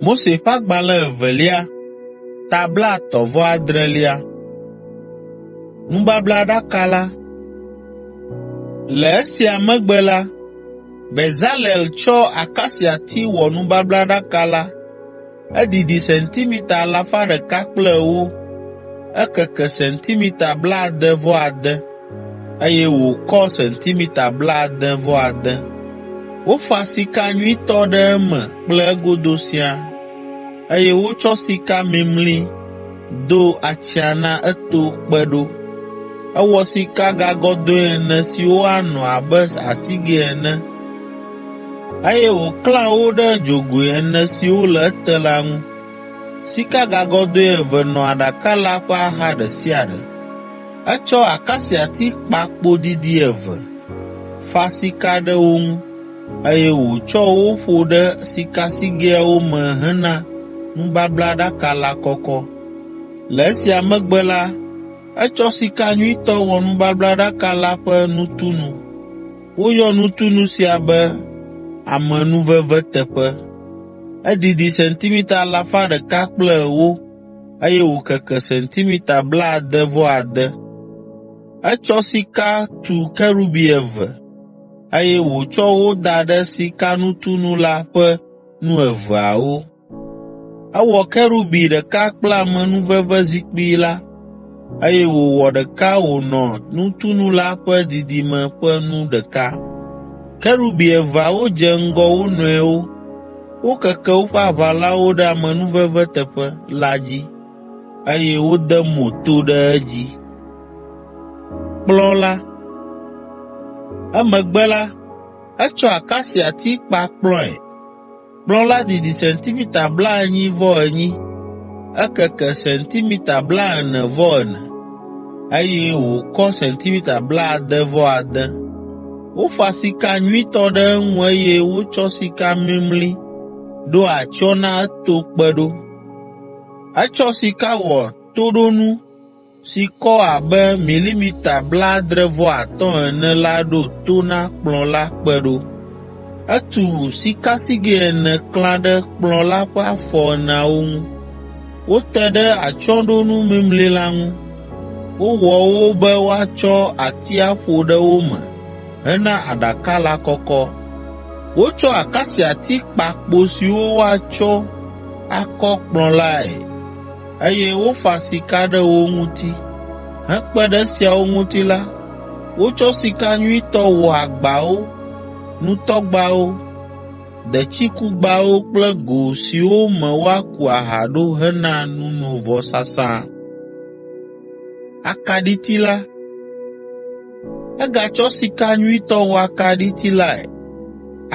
Mose ƒe agbalẽ evelia, ta blaetɔ̃ vɔ adrelia. Nubablaɖaka la. Le esia megbe la, Bezalel tsɔ akasiati wɔ nubablaɖaka la Edidi sentimita alafa ɖeka kple ewo, ekeke sentimita blaade-vɔ-ade, eye wòkɔ sentimita blaade-vɔ-ade. Wofa sika nyuitɔ ɖe eme kple egodo siaa, eye wotsɔ sika mimli do atsyã na eto kpe ɖo. Ewɔ sikagagɔdɔ̃e ene siwo anɔ abe asigɛ ene. Eye wòklã wo ɖe dzogoe ene siwo le ete la ŋu. Sikagagɔdɔ̃e eve nɔ aɖaka la ƒe axa ɖe sia ɖe. Etsɔ akasiati kpa kpo didi eve, fa sika ɖe wo ŋu, eye wòtsɔ wo ƒo ɖe sikasigɛawo me hena nubablaɖaka la kɔkɔ. Le esia megbe la, etsɔ sika nyuitɔ wɔ nubablaɖaka la ƒe nutunu. Woyɔ nutunu sia be amenuveveteƒe. Edidi sentimita alafa ɖeka kple ewo, eye wòkeke sentimita blaade-vɔ-ade. Etsɔ sika tu kerubi eve, eye wòtsɔ wo da ɖe sikanutunu la ƒe nu eveawo. Ewɔ kerubi ɖeka kple amenuvevezikpui la, eye wòwɔ ɖeka wònɔ nutunu la ƒe didime ƒe nu ɖeka. Kerubi eveawo dze ŋgɔ wo nɔewo, wokeke woƒe aʋalawo ɖe amenuveve teƒe la dzi, eye wode mo to ɖe edzi. Emegbe la, etsɔ akasiati kpa kplɔ̃e. Kplɔ̃ la didi sentimita blaenyi-vɔ-enyi, ekeke sentimita blaene-vɔ-ene, eye wòkɔ sentimita blaade-vɔ-ade. Wofa sika nyuitɔ ɖe eŋu eye wotsɔ sika mimli ɖo atsyɔ̃ na eto kpe ɖo. Etsɔ sika wɔ toɖonu si kɔ abe milimita blaadre-vɔ-atɔ̃ ene la ɖo to na kplɔ̃ la kpe ɖo. Etu sikasigɛ ene klã ɖe kplɔ̃ la ƒe afɔ eneawo ŋu. Wote ɖe atsyɔ̃ɖonu mimli la ŋu. Wowɔ wo be woatsɔ ati aƒo ɖe wo me hena aɖaka la kɔkɔ. Wotsɔ akasiati kpa kpo siwo woatsɔ akɔ kplɔ̃ lae. Eye wofa sika ɖe wo ŋuti. Hekpe ɖe esiawo ŋuti la, wotsɔ sika nyuitɔ wɔ agbawo, nutɔgbawo, detsikugbawo kple go siwo me woaku aha ɖo hena nunovɔsasa. Egatsɔ sika nyuitɔ wɔ akaɖiti lae.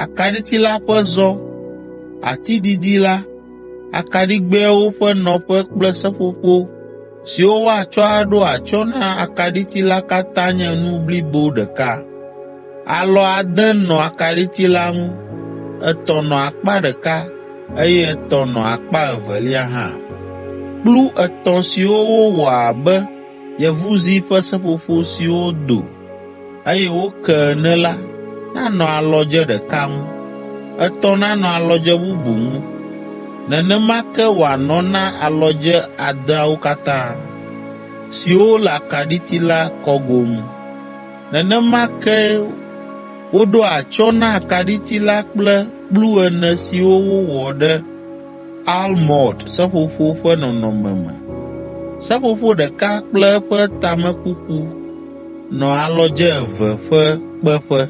Akaɖiti la ƒe zɔ, ati didi la, akaɖigbɛawo ƒe nɔƒe kple seƒoƒo siwo woatsɔ aɖo atsyɔ̃ na akaɖiti la katã nye nu blibo ɖeka. Alɔ ade nɔ akaɖiti la ŋu, etɔ̃ nɔ akpa ɖeka, eye etɔ̃ nɔ akpa evelia hã. Kplu etɔ̃ siwo wowɔ abe yevuzi ƒe seƒoƒo siwo do eye wo ke ene la nanɔ alɔdze ɖeka ŋu, etɔ̃ nanɔ alɔdze bubu ŋu, nenema ke wòanɔ na alɔdze adeawo katã, siwo le akaɖiti la kɔgo ŋu. Nenema ke woɖoa atsyɔ̃ na akaɖiti la kple kplu ene siwo wowɔ ɖe almɔnd seƒoƒo ƒe nɔnɔme me. Seƒoƒo ɖeka kple eƒe tamekuku nɔ alɔdze eve ƒe kpeƒe.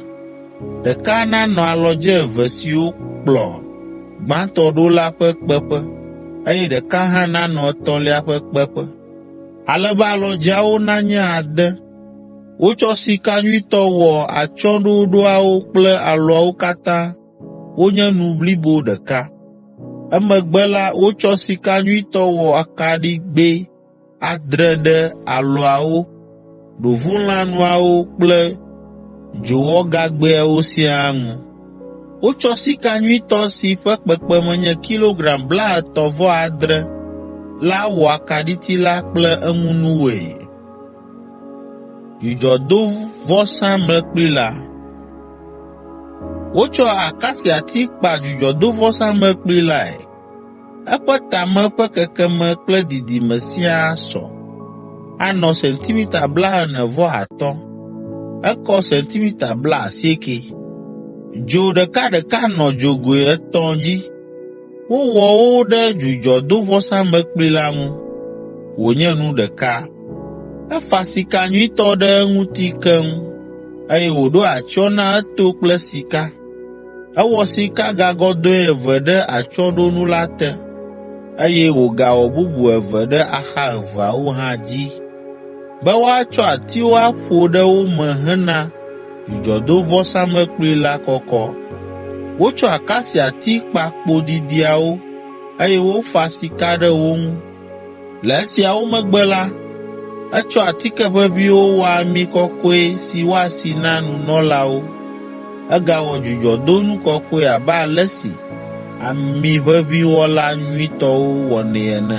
Ɖeka nanɔ alɔdze eve siwo kplɔ gbãtɔ ɖo la ƒe kpeƒe, eye ɖeka hã nanɔ etɔ̃lia ƒe kpeƒe, ale be alɔdzeawo nanye ade. Wotsɔ sika nyuitɔ wɔ atsyɔ̃ɖoɖoawo kple alɔawo katã. wonye nu blibo ɖeka. Emegbe la, wotsɔ sika nyuitɔ wɔ akaɖigbɛ adre ɖe alɔawo, ɖovulãnuawo kple dzowɔgagbɛawo siaa ŋu. Wotsɔ sika nyuitɔ si ƒe kpekpeme nye kilogram blaetɔ̃-vɔ-adre la wɔ akaɖiti la kple eŋunuwoe. Dzudzɔdovɔsamlekpui la. Wotsɔ akasiati kpa dzudzɔdovɔsamlekpui lae. Eƒe tame ƒe kekeme kple didime siaa sɔ, anɔ sentimita blaene vɔ atɔ̃, ekɔ sentimita blaasieke. Dzo ɖekaɖeka nɔ dzogoe etɔ̃ dzi. Wowɔ wo ɖe dzudzɔdovɔsamlekpui la ŋu wònye nu ɖeka. Efa sika nyuitɔ ɖe eŋuti keŋ, eye wòɖo atsyɔ̃ na eto kple sika. Ewɔ sikagagɔdɔ̃e eve ɖe atsyɔ̃ɖonu la te, eye wògawɔ bubu eve ɖe axa eveawo hã dzi be woatsɔ atiwo aƒo ɖe wo me hena dzudzɔdovɔsamlekpui la kɔkɔ. Wotsɔ akasiati kpa kpo didiawo, eye wofa sika ɖe wo ŋu. Le esiawo megbe la, etsɔ atike ʋeʋĩwo wɔ ami kɔkɔe si woasi na nunɔlawo. Egawɔ dzudzɔdonu kɔkɔe abe ale si amiʋeʋĩwɔla nyuitɔwo wɔnɛ ene.